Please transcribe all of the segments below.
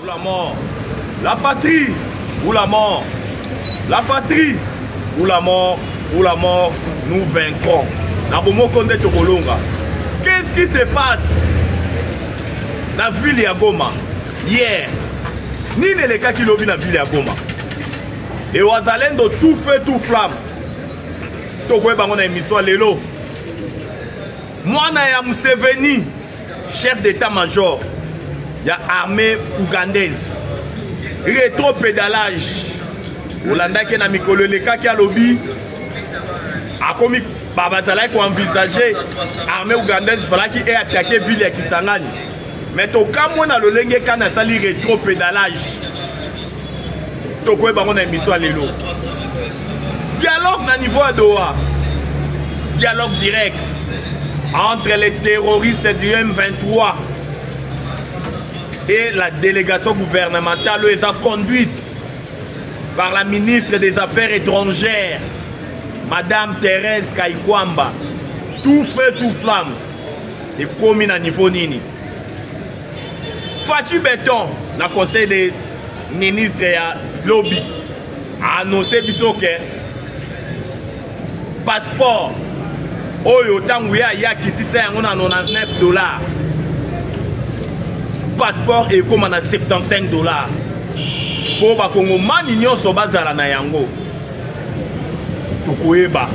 Ou la mort. La patrie ou la mort. La patrie ou la mort. Ou la mort, nous vaincrons. Na bomoko nde tokolonga. Qu'est-ce qui se passe na ville ya Goma hier? Nini elekaki lobi na ville ya Goma? Et wazalendo tout feu tout flamme. Tokoyeba ngo na émission lelo. Mwana ya Museveni chef d'état major ya armée ougandaise retro pédalage olandaki na mikolo elekaki alobi akomi bazalaki koenvisage armée ougandaise falaki e atake ville ya kisangani me tokamwe na lolenge kani asali retro pédalage tokoyeba yango na emission ya lelo dialogue na niveau ya doha dialogue direct entre les terroristes du m23 et la délégation gouvernementale oyo eza conduite par la ministre des affaires étrangères madame thérèse kaikwamba tout feu tout flamme ekomi na niveau nini Fatshi Beton, na conseil des ministres ya lobby, a annoncé biso que passeport oyo ntango ye aye akitisa yango na 99 dollar passeport ekóma na 75 dollar mpo bakongomani nyonso bazala na yango tokoyeba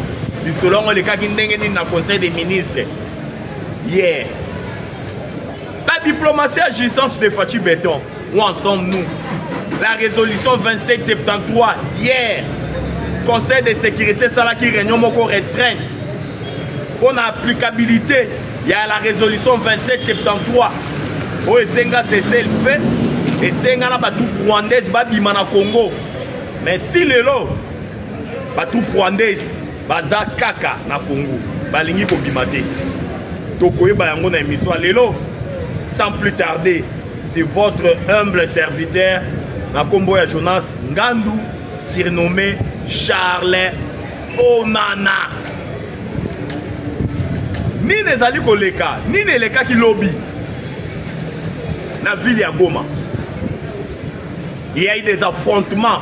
lisolo yango elekaki ndenge nini na conseil des ministres Yeah. La diplomatie agissante de Fatih Béton, où en sommes-nous La résolution 2773, hier, Conseil de sécurité Salaki Réunion Moko restreinte, pour l'applicabilité, il y a la résolution 2773, où Esenga cessé le fait, Esenga na batou rwandaise babima na Congo. Mais si lelo, batou rwandaise, baza kaka na congo balingi kobima te tokoyeba yango na émission lelo sans plus tarder c'est votre humble serviteur na nkombo ya jonas ngandu surnommé charles onana nini ezali koleka nini elekaki lobi na ville ya goma il y a eu des affrontements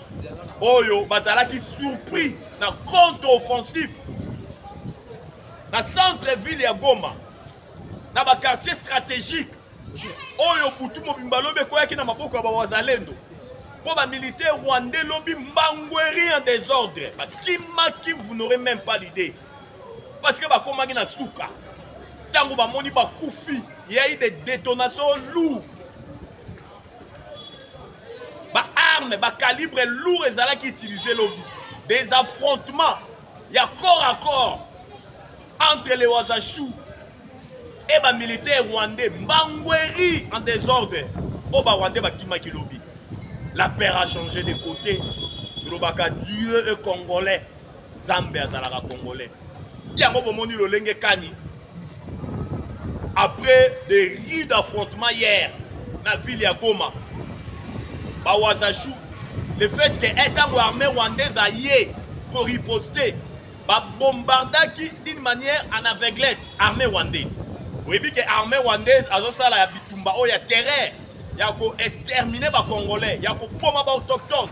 oyo bazalaki surpris na contre offensif na centre ville ya goma na baquartier stratégique oyo butu mobimba lobi ekweyaki na maboko ya bawazalendo mpo bamilitaire rwandais lobi mbangweri en désordre bakimaki vous n'aurez même pas l'idée parce que bakomaki na suka ntango bamoni bakufi yai de détonation lourd ba arme ba calibre lourd ezalaki utilise lobi des affrontements ya corps à corps entre les wazachou et ba militaire rwandais mbangweri en désordre oyo ba rwandais bakimaki lobi la paire a changé de côté tolobaka dieu e congolais zambe azalaka congolais yango bomoni lolenge kani après des rues d'affrontement hier na ville ya goma bawazachou le fait que etango armée rwandaise aye koriposte babombardaki d'une manière en aveuglette armée rwandaise oyebi ke armée rwandaise azosala ya bitumba oyo ya terreur ya koextermine bacongolais ya kopoma baautochtone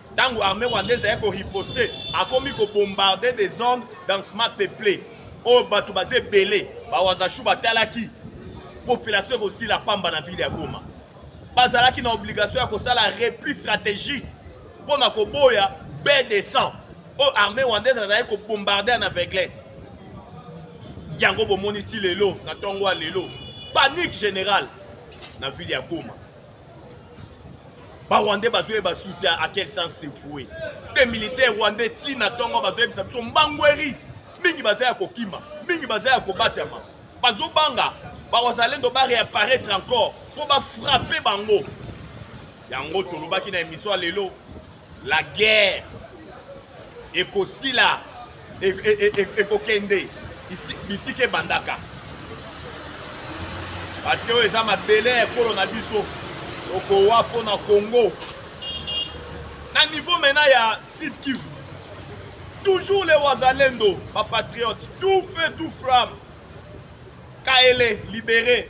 ntango armée rwandaise aye koriposte akomi kobombarde des zones densement peuple oyo bato baza ebele bawazashu batalaki population ekosila pamba na ville ya goma bazalaki na obligation ya kosala repli stratégique mpo na koboya baie de sang oyo armée rwandaise azalaki kobombarde na veglete yango bomoni ti lelo na ntongo ya lelo panique générale na ville ya goma ba rwandais bazoyeba sute à quel sens se foue mpe militaire rwandais ti na ntongo bazoyebisa biso mbangweri mingi baza ya kokima mingi baza ya kobatama bazobanga bawazalendo bareapparaître encore mpo bafrappe bango yango tolobaki na émission ya lelo la guerre ekosila ekokende e, e, e, bisika ebandaka parce que oyo eza mabele ya ekolo na biso tokowa mpo na congo na niveau maintenant ya sud kivu toujours les wazalendo bapatriote tout feu tout flamme kaele libere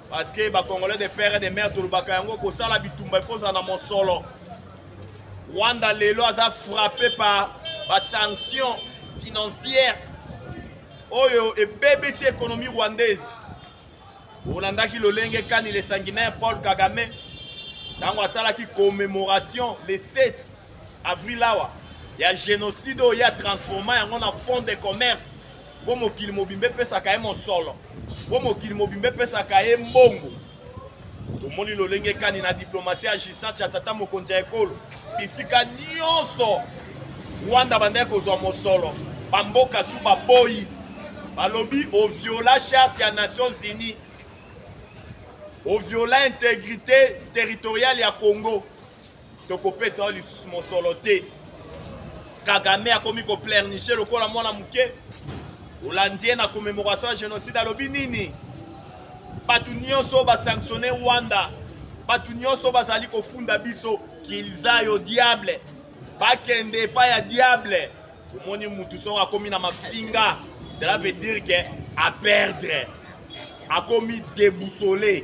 parce que ba congolais de père et de mère tolobaka yango kosala bitumba il faut ozala na mosolo rwanda lelo aza frappé par basanction financière oyo ebebisi économie rwandaise olandaki lolenge kani le sanguinaire paul kagame ntango asalaki commémoration le 7 avril awa ya génocide oyo ye atransforma yango na fond de commerce mpo mokili mobimba epesaka ye mosolo mpo mokili mobimba epesaka ye mbongo tomoni lolenge kani na diplomasi ya gisant ya tata mokonzi ya ekolo bisika nyonso rwanda bandaki kozwa mosolo bamboka tu baboyi balobi oviola charte ya nations unies oviola integrité territoriale ya congo tokopesa yo lisusu mosolo te kagame akomi koplerniche lokola mwana moke olandi ye na commemoration ya génocide alobi nini bato nyonso oyo basanctionne rwanda bato nyonso bazali kofunda biso kilza yo diable bakende epai ya diable omoni motu soko akomi na mafinga cela veut dire ke aperdre akomi deboussole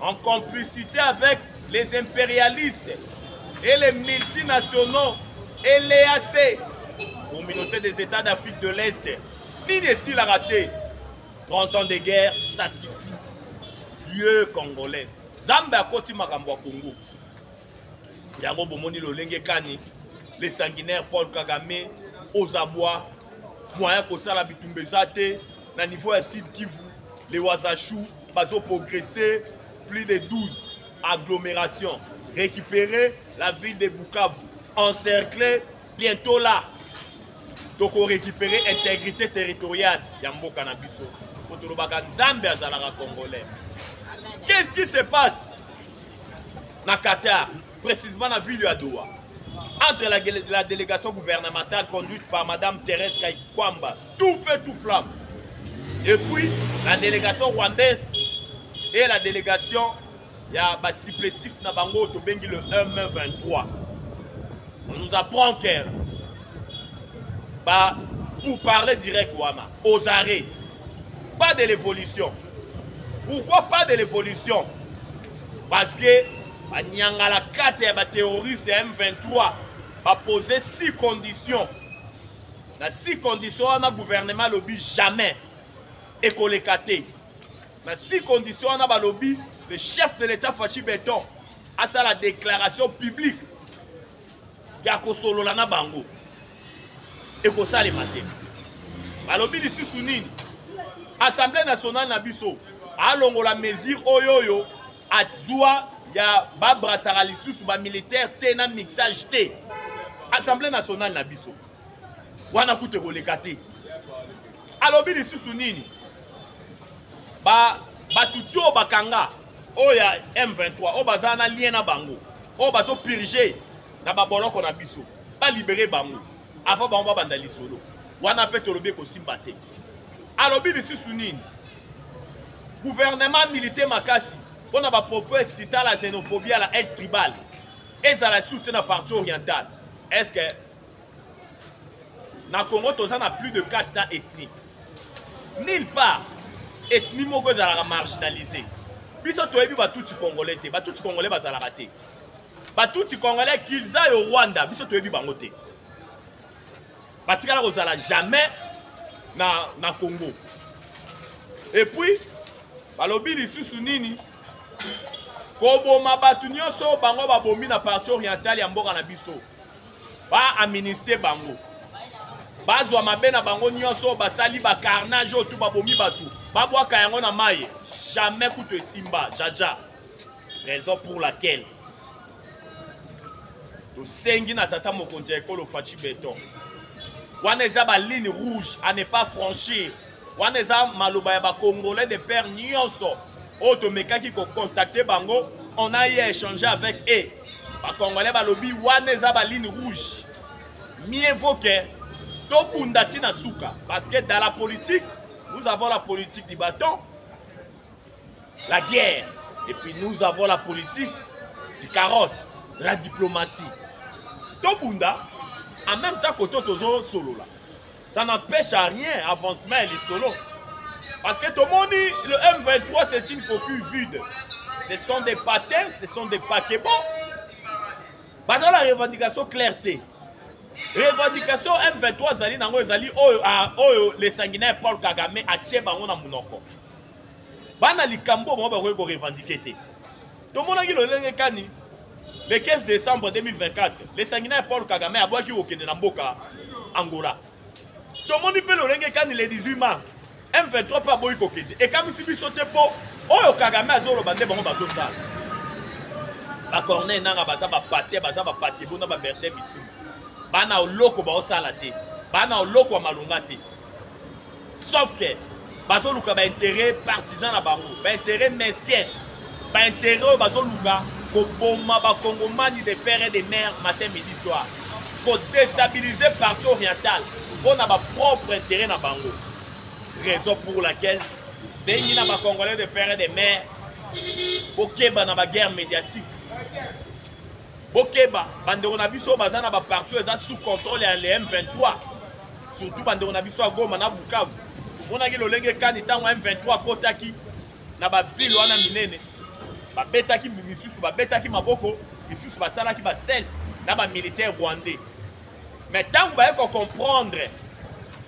en complicité avec les impérialistes et les multinationaux et l'EAC, communauté des États d'Afrique de l'Est, nini esilaka te 30 ans de guerre ça suffit dieu congolais nzambe akoti makambo ya kongo yango bomoni lolenge kani le sanguinaire paul kagame ozabwa moyen kosala bitumba eza te na niveau ya sud kivu le wazachou bazoprogresse plus de 12 agglomération récupérer la ville de bukavu encerclé bientôt là tokorécupérer intégrité territoriale ya mboka na biso mpo tolobaka nzambe azalaka congolais qu'est ce qui se passe na Qatar, précisément na ville ya Doha, entre la, la délégation gouvernementale conduite par Madame Thérèse Kaikwamba, tout feu, tout flamme, et puis la délégation rwandaise et la délégation ya ba supplétifs na bango tobengi le M23. On nous apprend que bah, pour parler direct wana aux arrêts pas de l'évolution Pourquoi pas de l'évolution Parce que banyangala kata ya baterroriste ya M23 bapose six conditions na six conditions wana gouvernement alobi jamais ekoleka te na six conditions wana balobi le chef de l'état fachi beton asala déclaration publique ya kosolola na bango ekosalema te balobi lisusu nini assemblée nationale na biso alongola mesure oyo oyo azwa ya babrasaka lisusu bamilitaire te na mixage te assemblée nationale na biso wana kutu ekoleka te alobi lisusu nini bato ba tio bakanga oyo ya M23 oyo baza na lien na bango oyo bazo purge na baboloko na biso balibere bango avant bango babanda lisolo wana mpe tolobi ekosimba te alobi lisusu nini guvernema milite makasi mpo na bapropos excita la xenophobie ya la aide tribale ezala lisusu te na parti orientale est ce que na congo toza na plus de 400 ethnie nulle part ethnie moko ezalaka marginalise biso toyebi batuti congolais te batuti congolais bazalaka te batuti congolais kilza yo rwanda biso toyebi bango te batikala kozala jamais na, na congo epuis balobi lisusu nini koboma bato nyonso bango babomi na parti orientale ya mboka na biso ba aministre bango bazwa mabe na bango nyonso basali bacarnage oyo tu babomi bato babwaka yango na maye jamais kutu esimba jaja raison pour laquelle tosengi na tata mokonzi ya ekolo faci beton wana eza baligne rouge à ne pas franchir wana eza maloba ya bacongolais de père nyonso oyo tomekaki kocontacte bango on a ye échange avec e bacongolais balobi wana eza baline rouge mieux vaut que tobunda ti na suka parce que dans la politique nous avons la politique du bâton la guerre et puis nous avons la politique du carotte la diplomatie tobunda en même temps koto tozosolola ça n'empêche à rien avancement ya lisolo parce que tomoni le m23 c'est une coquille vide ce sont des patins ce sont des paquebons baza na revendication claire te revendication m23 azali nango ezali oyo, a, oyo le sanguinaire paul kagame atie bango na monoko bana likambo bango bakoki korevendike te tomonaki lolenge kani le 15 décembre 2024 lesangina ya paul kagame abwaki kokende na mboka angola tomoni mpe lolenge kani le 18 mars m23 mpe aboyi kokende ekamwisi biso te mpo oyo kagame azoloba nde bango bazosala bacorneille nanga baza bapate baza bapate bona babertin misumu bana oloko baosala te bana oloko ya malonga te sauf que bazoluka baintérêt partisan na bango baintérêt mesquin baintérêt oyo bazoluka koboma bakongomani de père et de mère matin midi soir kodestabilise parti oriental mpo na bapropre intérêt na bango raison pour laquelle bengi na bacongolais de père et de mère bokeba na baguerre médiatique bokeba bandeko na biso baza na baparti oyo eza sous contrôle ya le m23 surtout bandeko na biso ya goma na bukavu omonaki lolenge kani ntango m23 akotaki na bavile wana minene babetaki misusu babetaki maboko misusu basalaki baself na bamilitaire rwandais mais ntango baye kocomprendre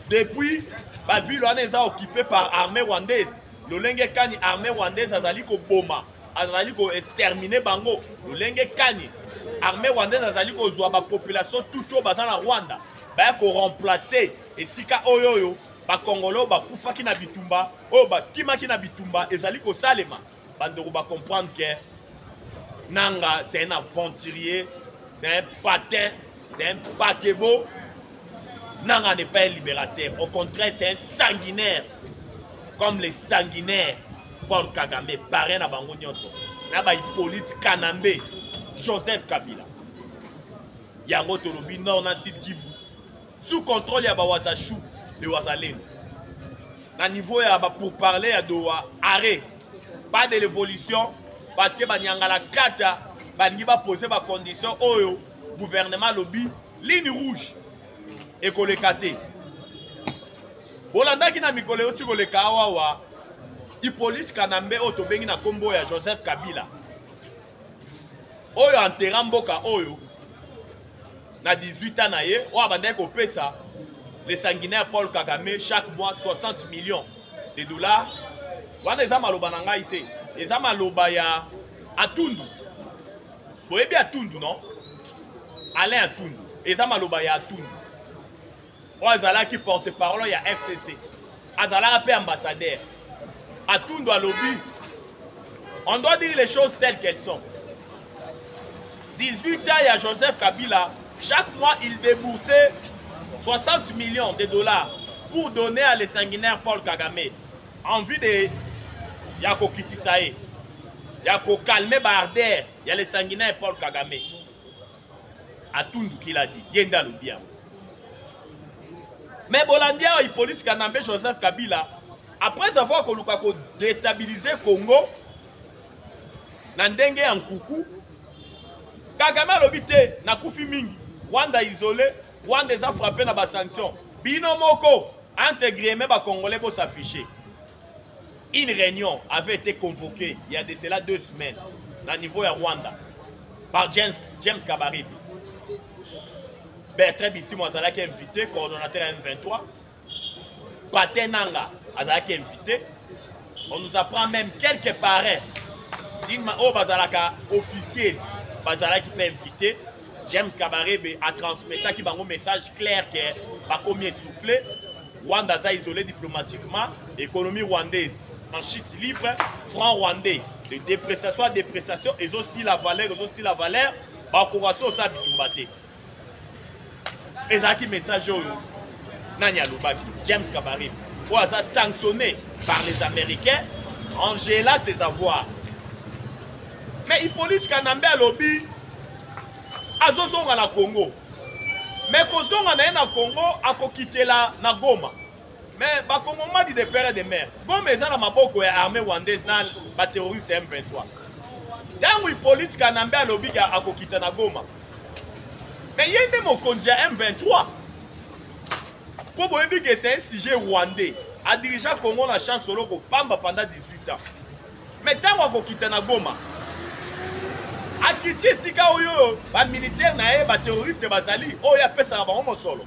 depuis bavile wana eza occupe par armée rwandaise lolenge kani armée rwandaise azali koboma azali ko exterminer bango lolenge kani armée rwandaise azali kozwa bapopulation tuti oyo baza na rwanda baya koremplace esika oyo oyo bakongolo oyo bakufaki na bitumba oyo bakimaki na bitumba ezali kosalema bandeko bacomprendre ke nanga c'est un aventurier c'est un patin c'est un pakebo nanga n'est pas un libérateur au contraire c'est un sanguinaire comme les sanguinaires Paul Kagame parrain na bango nyonso na ba Hippolyte Kanambe Joseph Kabila yango tolobi nord na sud Kivu sous contrôle ya bawazashu le wazalendo na niveau ya ba pourparler ya Doha arrêt pas de l'évolution parce que banyangala kata balingi bapose bacondition oyo gouvernement alobi ligne rouge ekoleka te bolandaki na mikolo euti koleka awawa hippolyte kanambe oyo tobengi na nkombo ya joseph kabila oyo antera mboka oyo na 18 ans na ye oyo abandaki kopesa le sanguinaire paul kagame chaque mois 60 millions de dollars wana eza maloba na ngai te eza maloba ya atundu boyebi atundu non alain atundu eza maloba ya atundu oyo azalaki porte parole ya fcc azalaka mpe ambassadeur atundu alobi on doit dire les choses telles qu'elles sont 18 ans ya joseph kabila chaque mois il déboursait 60 millions de dollars pour donner à les sanguinaires paul kagame envie de ya kokitisa ye ya kokalme baarder ya le sanguinaire paul kagame atundu kiladi ye nde alobi yango me bolandi awa hippolyte kanambe joseph kabila après avoir koluka kodestabilize congo na ndenge ya nkuku kagame alobi te nakufi mingi rwanda isole rwanda eza frappe na basanction bino moko Entre grieme ba congolais bo s'afficher. Une réunion avait été convoquée il y a de cela deux semaines na niveau ya Rwanda par James, James Kabarebe. Bertrand Bissimo azalaki invité, coordonnateur ya M23. Patin Nanga azalaki invité. On nous apprend même quelques parrains. D'une ma- oyo bazalaka officiers bazalaki mpe invité. James Kabarebe a transmetaki bango message clair que bakomi essoufflé Rwanda aza isolé diplomatiquement économie rwandaise en chute libre franc rwandais de dépréciation à dépréciation ezo si la valeur ezo si la valeur bakoka so osa bitumba te ezalaki message oyo nani alobaki James Kabarebe oyo aza sanctionné par les Américains Angela ses avoirs mais Hippolyte Kanambe alobi azozonga na congo me kozonga na ye na congo akokitela na goma me bakongomani de pere de mare goma eza na maboko ya armée rwandaise na baterroriste ya m23 ntango ipoliti kanambe alobi ke akokita na goma me ye nde mokonzi ya m23 mpo boyebi ke c'est un sujet rwandais adirigea congo na chance oloko pamba pendant 18 ans me ntango akokita na goma akiti esika oyo bamilitaire na ye bateroriste bazali oyo apesaka bango mosolo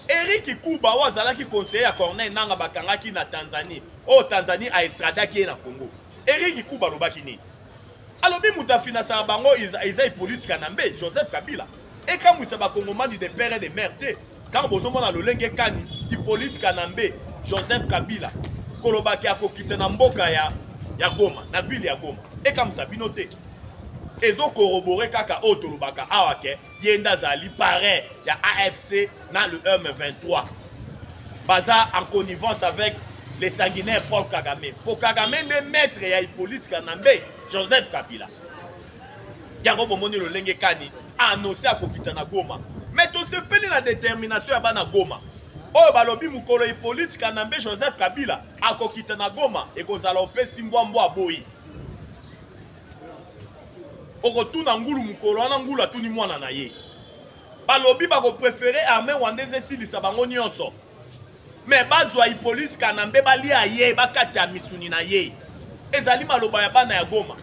eriki kuba oyo azalaki conseiller ya corneille nanga bakangaki na tanzanie oyo tanzanie aestradaki ye na congo eriki kuba alobaki nini alobi moto afinasaka bango eza ipolitika na mbe joseph kabila ekamwisa bakongomani de pere de mare te ntango bozomona lolenge kani hipolite kanambe joseph kabila kolobaki akokita na mboka ya, ya goma na ville ya goma ekamwisa bino te ezokorobore kaka oyo tolobaka awa ke ye nde azali parrain ya afc na le m23 baza en connivence avec le sanguinaire paul kagame po kagame nde maître ya hipolite kanambe joseph kabila yango bomoni lolenge kani anonse akokita na goma me tosepeli na determination ya bana goma oyo balobi mokolo hippolyte kanambe joseph kabila akokita na goma ekozala opesi mbwa mbwa aboyi okotuna ngulu mokolo wana ngulu atuni mwana na ye balobi bakoprefere arme rwandaise esilisa bango nyonso me bazwa ipolisi kanambe balia ye bakata misuni na ye ezali maloba ya bana ya goma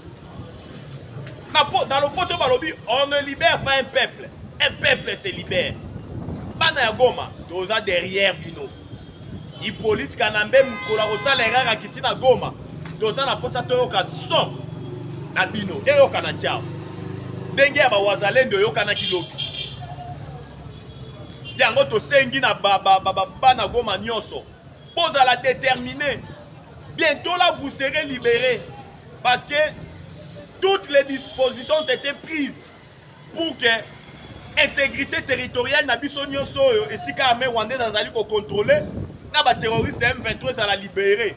na, po, na lopoto balobi on ne libère pas un peuple un peuple se libère bana ya goma toza derrière bino ipolisi kanambe mokolo akosala erreur akiti na goma toza na mposa toyoka son na bino eyokana tiao ndenge ya bawazalendo eyokanaki lobi yango tosengi na bana goma nyonso bozala déterminé bientôt là vous serez libéré parce que toutes les dispositions ont été prises pour que intégrité territoriale na biso nyonso oyo esika armée rwandaise azali kocontrôle na baterroriste ya m23 ezala libéré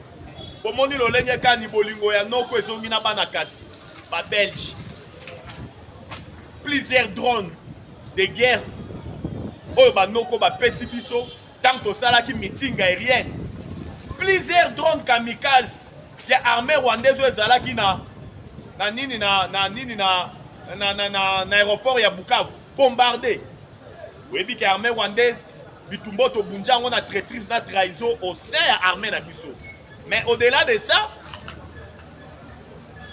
bomoni lolenge kani bolingo ya noko ezongi na bana kasi babelge plusieurs drones de guerre oyo banoko bapesi biso ntango tosalaki meeting aérienne plusieurs drones kamikaze ya armée rwandaise oyo ezalaki na na nini na na nini na na, na, na, na aéroport ya bukavu bombarde oyebi ke armée rwandaise bitumba oyo tobunja yango na traitrise na trahison au sein ya armée na biso mais au delà de ça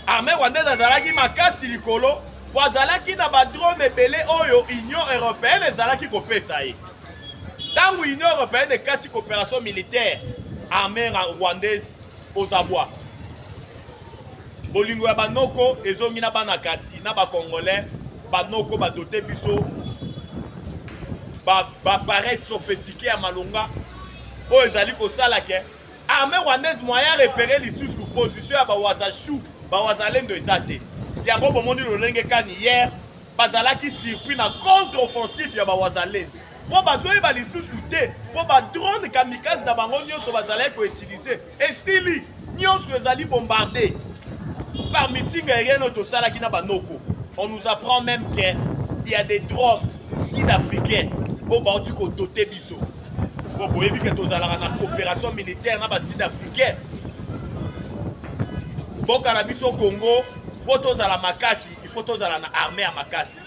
armée rwandaise azalaki makasi likolo mpo azalaki na badrone ebele oyo union européenne ezalaki kopesa ye ntango union européenne ekati coopération militaire armée rwandaise ozabwa bolingo ya banoko ezongi na bana kasi na bacongolais banoko badote biso bapareil ba sophistiqué ya malonga oyo ezali kosala ke armée rwandaise moyen repere lisusu position ya bawazashu bawazalendo eza te yango bomoni lolenge kani hier bazalaki surpris na contre offensive ya bawazalendo mpo bazoyeba lisusu te mpo badrone kamikaze na bango nyonso bazalaki koutilize esili nyonso ezali bombarde par meeting aérienne oyo tosalaki na banoko on nous apprend même que il y a des drones sud-africaines oyo bauti kodote biso fo boyebi ke tozalaka na coopération militaire na basud africain mboka na biso congo mpo tozala makasi il faut tozala na armée ya makasi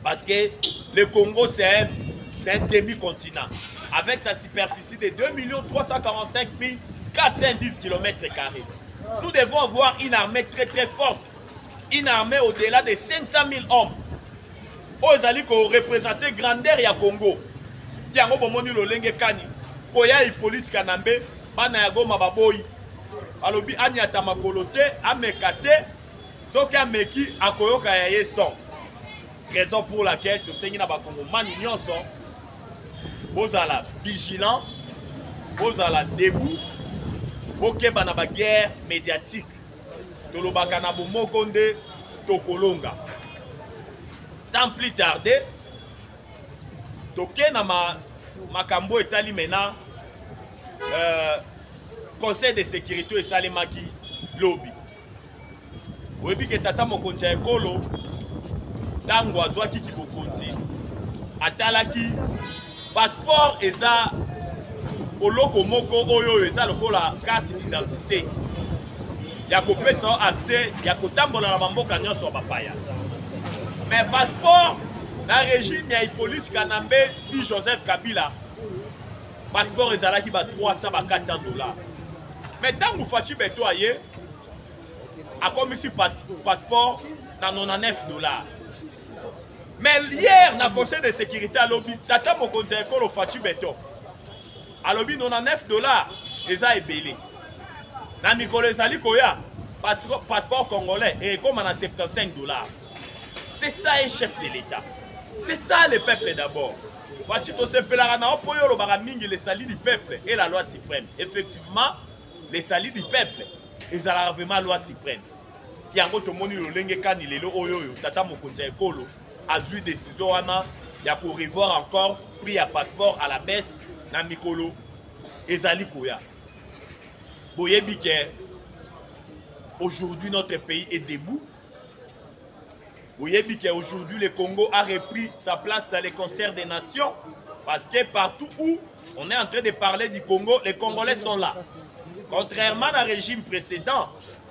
parce que le congo c'est un, un demi-continent avec sa superficie de 2 345 410 km carrés nous devons avoir une armée très très forte une armée au-delà de 500 000 hommes oyo ezali ko representer grandeur ya Congo yango bomoni lolenge kani koya Hippolyte Kanambe bana ya Goma baboyi alobi anyata makolo te ameka te soki ameki akoyoka ya ye son raison pour laquelle tosengi na bakongomani nyonso bozala vigilant bozala debout bokeba na baguerre médiatique tolobaka na bomoko nde tokolonga sans plus tarder toke na ma, makambo etali mena euh, conseil de sécurité oyo esalemaki lobi oyebi ke tata mokonzi ya ekolo ntango azwaki kibokonzi atalaki Passeport eza oloko moko oyo oyo eza lokola carte d'identité ya kopesa yo accès ya kotambola na bamboka nyonso ya bapaya mais passeport na régime ya hippolyse kanambe i joseph kabila passeport ezalaki ba 300 ba 400 dollars mais ntango faci beto aye akomisi passeport na 99 dollars mais hier na conseil de sécurité alobi tata mokonzi ya ekolo faci beton alobi 99 dollars eza ebele na mikolo ezali koya passeport congolais ekoma na 75 dollars c'est ça un chef de l'état c'est ça le peuple d'abord faci tosepelaka na yo mpo yo olobaka mingi le salut du peuple et la loi suprême effectivement le salut du peuple ezalaka vraiment loi suprême yango tomoni lolenge kani lelo oyo oyo tata mokonzi ya ekolo azwi desizio wana ya korevoir encore prix ya passeport à la baisse na mikolo ezali koya boyebi ke aujourd'hui notre pays est debout boyebi ke aujourd'hui le congo a repris sa place dans les concerts des nations parce que partout où on est en train de parler du congo les congolais sont là contrairement na régime précédent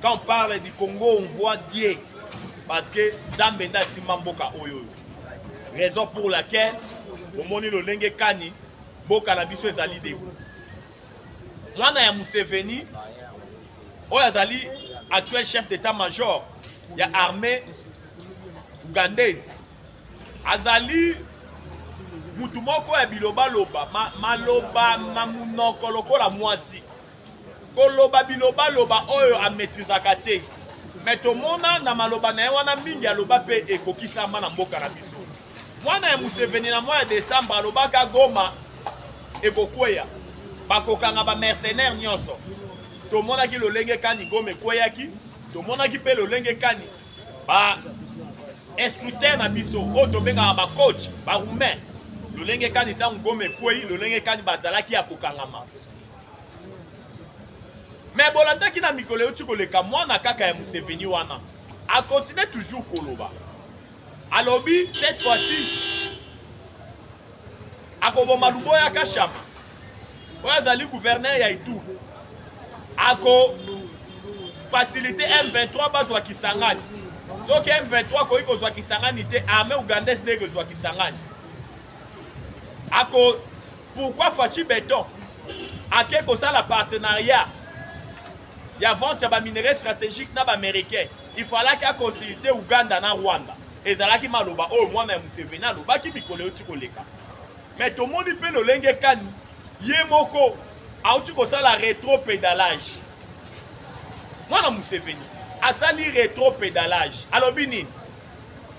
Quand on parle du Congo, on voit Dieu. Parce que Zambenda Simba Mboka Oyo. Raison pour laquelle, au moni le lenge kani, Boka na biso ezali de. Mwana ya Museveni, oyo azali actuel chef d'état-major ya armée ougandaise, azali mutu moko ya bilobaloba ma, maloba ma munoko lokola mwasi koloba bilobaloba oyo ametrizaka te me tomona na maloba na ye wana mingi aloba mpe ekokisama na mboka na biso mwana ya museveni na mwa ya desembre alobaka goma ekokweya bakokanga bamercenaire nyonso tomonaki lolenge kani goma ekweyaki tomonaki mpe lolenge kani ba instructeur na biso oyo tobengaka bacoach baroumain lolenge kani ntango goma ekwei lolenge kani bazalaki ya kokangama me bolandaki na mikolo euti koleka mwana kaka ya museveni wana akontinue toujours koloba alobi cette fois-ci akoboma luboya kashama oyo azali gouverneur ya itu ako facilite m23 bazwa kisangani soki m23 akoki kozwa kisangani te armée ougandaise nde ekozwa kisangani ako pourquoi faci beton ake kosala partenariat ya vente ya baminerai stratégique na baaméricain il falaki aconsulte uganda na rwanda ezalaki maloba oyo mwana ya museveni alobaki mikolo euti koleka me tomoni mpe lolenge kani ye moko auti kosala retro pedalage mwana museveni asali retro pedalage alobi nini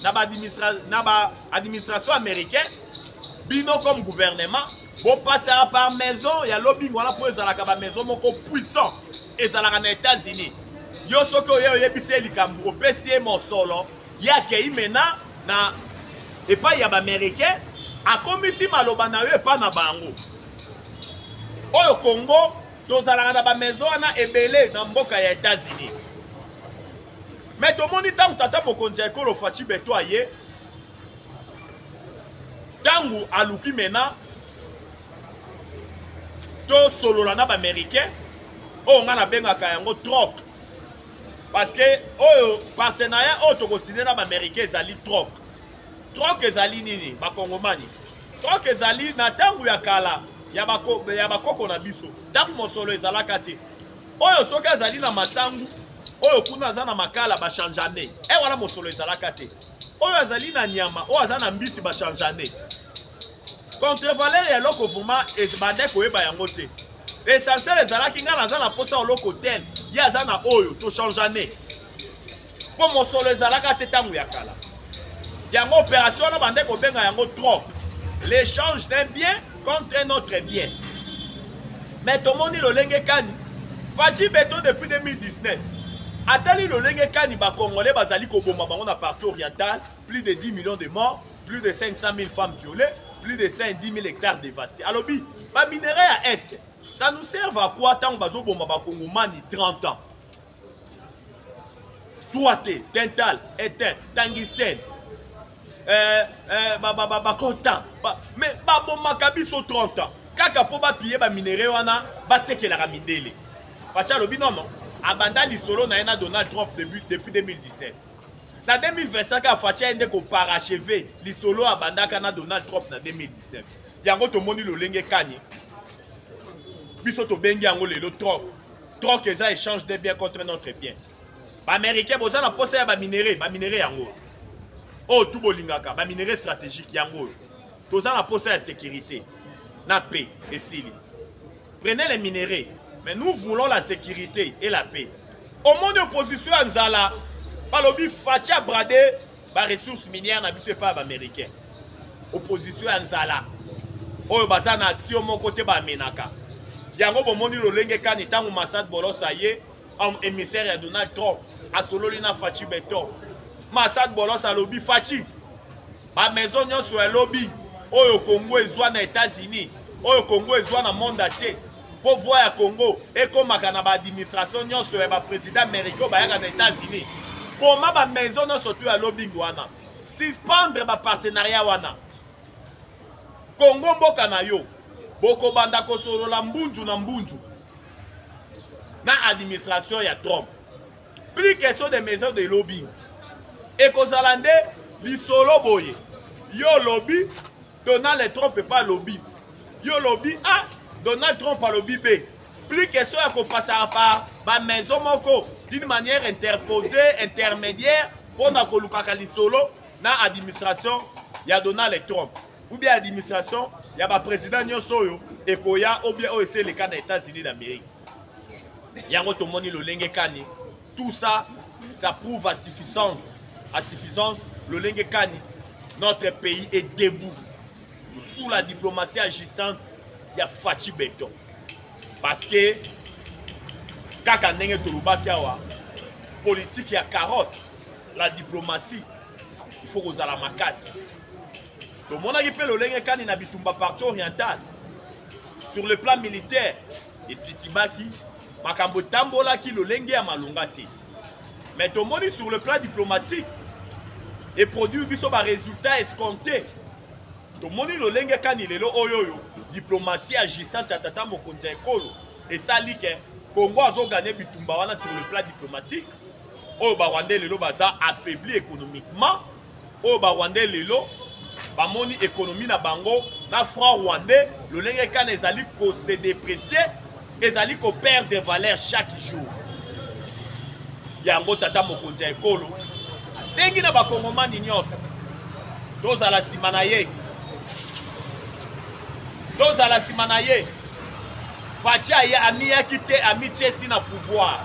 na ba administration na ba administration américain bino comme gouvernement bo passera par maison ya lobbying wana po ezalaka ba maison moko puissant ezalaka na États-Unis yo soki oye oyebisi ye likambo opesi ye mosolo ye akei mena na epai ya baaméricain akomisi maloba na yo epai na bango oyo congo tozalaka na bamaison wana ebele na mboka ya etats-unis me tomoni ntango tata mokonzi ya ekolo faci beto aye ntango aluki mena tosolola na baaméricain oyo ngai nabengaka yango troc parce que oyo partenariat oyo tokosine na baaméricain ezali troc troc ezali nini bakongomani troc ezali na ntango ya kala ya bakoko na biso ntango mosolo ezalaka te oyo soki azali na masangu oyo kuna aza na makala bachangeane e eh, wana mosolo ezalaka te oyo azali na nyama oyo aza na mbisi bachangeane contrevaler ya eloko vrema ebanda koyeba yango te essentiel ezalaki ngai naza na mposa oloko tel ye aza na oyo tochangeane mpo mosolo ezalaka te ntango ya kala yango opération wana bande kobenga yango trop l'échange d'un bien contre un autre bien mais tomoni lolenge kani faci beton depuis 2019 atali lolenge kani bacongolais bazali koboma bango na partie orientale plus de 10 millions de morts plus de 500 000 femmes violées plus de 110 000 hectares dévastés alobi baminerai ya est ça nous serve à quoi ntango bazoboma bakongomani 30 ans toi te dental etin tangistene eh, eh, bakontan me babomaka biso 30 ans kaka mpo bapiye baminere wana batekelaka mindele faci alobi nono abanda lisolo na ye na donald trump depuis 2019 na 2025 kaka faci aye nde koparacheve lisolo abandaka na donald trump na 2019 yango tomoni lolenge kani biso tobengi yango lelo trump troc eza échange de bien contre notre bien baaméricain boza na mposa ya baminere baminere yango oyo oh, tu bolingaka baminere stratégique yango oyo toza na mposa ya sécurité na paix esili prenez les minerais mais nous voulons la sécurité et la paix omoni opposition ya nzala balobi faci abrade ba ressources minières na biso epai ya baaméricain opposition ya nzala oyo baza na action moko te bamenaka yango bomoni lolenge kani ntango masad bolos aye émissaire ya donald trump asololi na faci beton masad bolos alobi faci bamaison nyonso ya lobi oyo congo ezwa na états-unis oyo congo ezwa na monde atie mpo voi ya congo ekomaka na baadministration nyonso ya baprésident américain oyo bayaka na états-unis boma bamaison nyonso to ya lobing wana suspendre bapartenariat wana congo mboka na yo bokobanda kosolola mbunzu na mbunzu na administration ya trump plus question de maison de lobing ekozala nde lisolo boye yo olobi donald trump epa alobi yo olobi a ah, donald trump alobi be plus question ya kopasaka pa bamaison moko d'une manière interposée intermédiaire mpo na kolukaka lisolo na administration ya donald trump ou bien administration ya baprésident nyonso oyo ekoya ou bien oyo esi eleka na états-unis d'amérique yango tomoni lolenge kani Tout ça, ça prouve à suffisance, à suffisance, le Lengekani, notre pays est debout sous la diplomatie agissante ya Fatshi Beton. Parce que, kaka ndenge tolobaki awa, politique ya carotte, la diplomatie, il faut kozala makasi. tomonaki mpe lolenge kani na bitumba parti oriental sur le plan militaire etitibaki makambo etambolaki lolenge ya malonga te mais tomoni sur le plan diplomatique eproduire biso baresultat escompte tomoni lolenge kani lelo oyo oyo diplomatie agissante ya tata mokonzi ya ekolo esali ke congo azoganye bitumba wana sur le plan diplomatique oyo barwandais lelo baza affaibli économiquement oyo ba rwandais lelo bamoni ekonomi na bango na franc rwandais lolenge kana ezali kose depresse ezali koperdre valeur chaque jour yango tata mokonzi ya ekolo asengi na bakongomani nyonso tozala nsima na ye tozala nsima na ye faci amiyaki te amityesi na pouvoir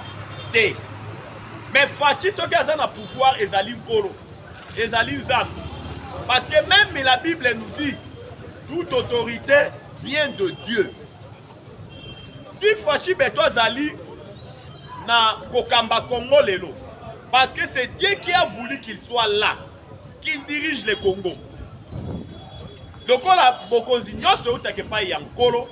te mais faci soki aza na pouvoir ezali nkolo ezali nzambe parce que même la bible nous dit toute autorité vient de dieu si faci beto azali na kokamba congo lelo parce que c'est dieu qui a voulu qu'il soit là qui dirige le congo lokola bokonzi nyonso eutaka epai ya nkolo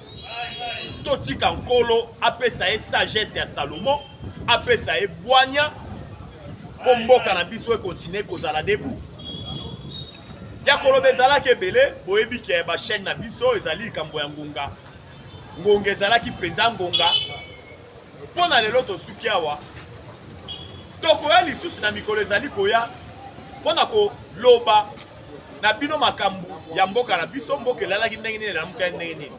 totika nkolo apesa ye sagesse ya salomon apesa ye bwanya mpo mboka na biso ekontinue kozala debu ya koloba ezalaki ebele boyebi ke bachaine na biso ezali likambo ya ngonga ngonga ezalaki mpenza ngonga mpo na lelo tosuki awa tokoya lisusu na mikolo ezali koya mpo na koloba na bino makambo ya mboka na biso mboka elalaki ndenge nini elamukai ndenge nini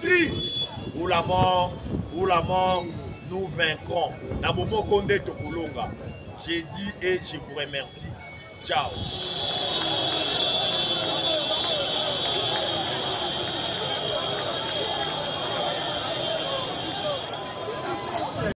Patrie ou la mort, ou la mort, nous vaincrons. Na bomoko nde tokolonga. J'ai dit et je vous remercie. Ciao.